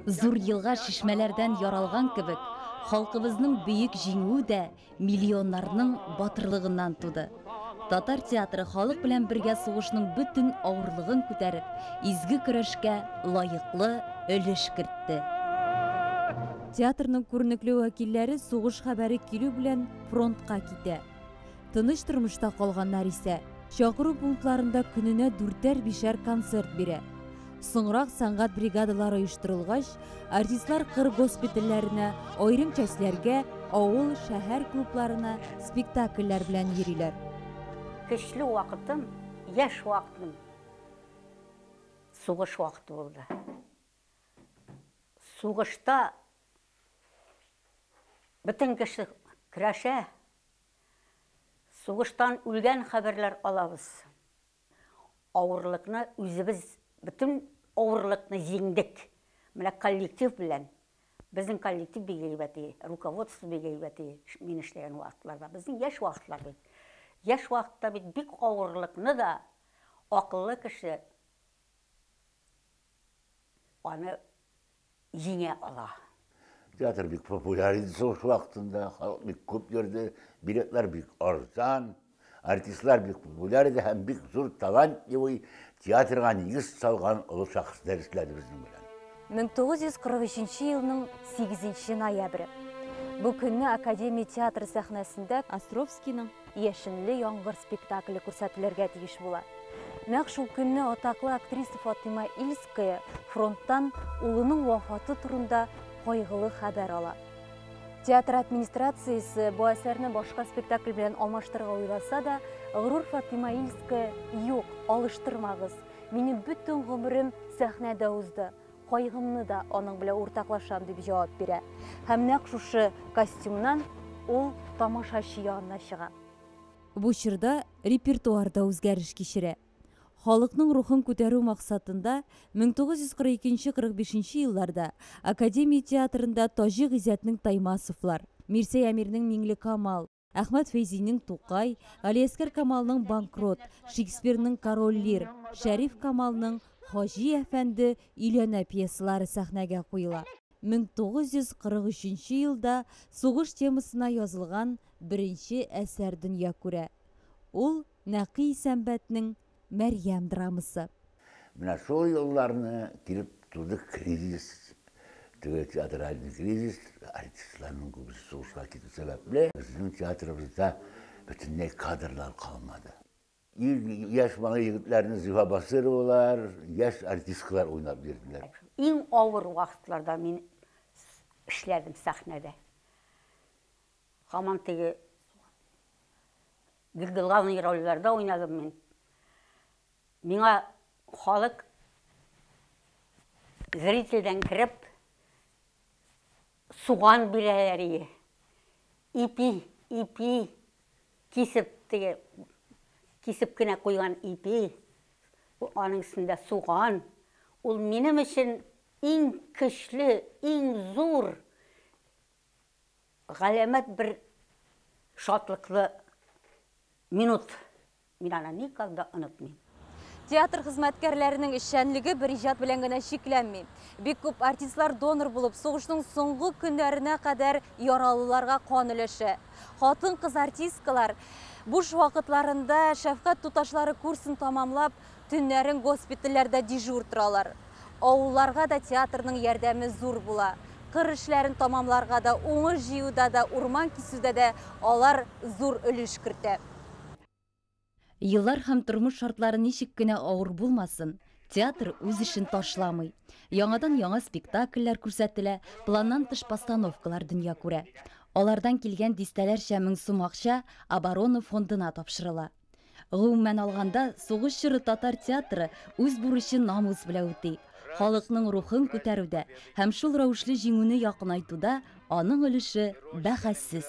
Зур елга чишмәләрдән яралган кебек, халкыбызның бөек җиңүе дә миллионнарның батырлыгыннан туды. Татар театры халык белән бергә сугышның бөтен авырлыгын күтәреп, изге көрәшкә лаеклы өлеш кертте. Театрның күренекле вәкилләре сугыш хәбәре килү белән фронтка китә. Тыныч тормышта калганнар исә чакыру пунктларында көненә дүртәр-бишәр концерт бирә. Соңрак сәнгать бригадалары оештырылгач, артистлар кыр госпитальләренә, аерым частьләргә, авыл, шәһәр клубларына спектакльләр белән йөриләр. Көчле вакытым, яшь вакытым сугыш вакыты булды. Сугышта бөтен кеше көрәшә. Сугыштан үлгән хәбәрләр алабыз. Авырлыкны үзебез, бөтен авырлыкны җиңдек. Менә коллектив белән. Безнең коллектив бик әйбәт и, руководство бик әйбәт и, мин эшләгән вакытларда. Безнең яшь вакытлар бит. Яшь вакытта бит бик авырлыкны да акыллы кеше аны җиңә ала. Театр бик популяр иде сугыш вакытында, халык бик күп йөрде, билетлар бик арзан, артистлар бик популяр иде һәм бик зур талантливый театрга нигез салган олы шәхесләр эшләде безнең белән. 1943 елның 8 ноябре. Бу көнне Академия театры сәхнәсендә Островскийның Яшенле яңгыр спектакле күрсәтелергә тиеш була. Нәкъ шул көнне атаклы актриса Фатыйма Ильская фронттан улының вафаты турында кайгылы хәбәр ала. Театр администрациясе бу әсәрне башка спектакль белән алмаштырырга уйласа да, Гърур Фатыйма Ильская, юк, алыштырмагыз. Минем бөтен гомерем сәхнәдә узды. Кайгымны да аның белән уртаклашам, дип җавап бирә. Һәм нәкъ шушы костюмнан ул тамашачы янына чыга. Бу чорда репертуар да үзгәреш кичерә. Халыкның рухын күтәрү максатында 1942-45 елларда Академия театрында Таҗи Гыйззәтнең Таймасовлар, Мирсәй Әмирнең Миңлекамал, Әхмәт Фәйзинең Тукай, Галиәскәр Камалның Банкрот, Шекспирның Король Лир, Шәриф Камалның Хаҗи әфәнде өйләнә пьесалары сәхнәгә куела. 1943 елда сугыш темасына язылган беренче әсәр дөнья күрә. Ул Нәкый Исәнбәтнең Мәрьям драмасы. Менә шул елларны килеп туды кризис, теге театральный кризис, артистларның күбесе сугышка китү сәбәпле, безнең театрыбызда бөтенләй кадрлар калмады. Ир яшь малай егетләрне Зифа Басыровалар, яшь артисткалар уйнап бирделәр. Иң авыр вакытларда мин эшләдем сәхнәдә. Һаман теге Бик главный рольләрдә уйнадым мин. Миңа халык зрительдән кереп суган бирәләр ие. Ипи, ипи кисеп теге кисеп кенә куйган ипи, аның өстендә суган. Ул минем өчен иң көчле, иң зур Галәмәт бер шатлыклы минут. Мин аны никогда онытмыйм. Театр хезмәткәрләренең эшчәнлеге бер иҗат белән генә чикләнми. Бик күп артистлар донор булып, сугышның соңгы көннәренә кадәр яралыларга кан өләшә. Хатын-кыз артисткалар буш вакытларында шәфкать туташлары курсын тәмамлап, Төннәрен госпитальләрдә дежур торалар. Авылларга да театрның ярдәме зур була. Кыр эшләрен тәмамларга да, уңыш җыюда да, урман кисүдә дә алар зур өлеш кертә. Еллар һәм тормыш шартлары ничек кенә авыр булмасын, театр үз эшен ташламый. Яңадан яңа спектакльләр күрсәтелә, планнан тыш постановкалар дөнья күрә. Алардан килгән дистәләрчә мең сум акча оборона фондына тапшырыла. Гомумән алганда, сугыш чоры татар театры үз бурычын намус белән үти. Халыкның рухын күтәрүдә һәм шул рәвешле җиңүне якынайтуда аның өлеше бәхәссез.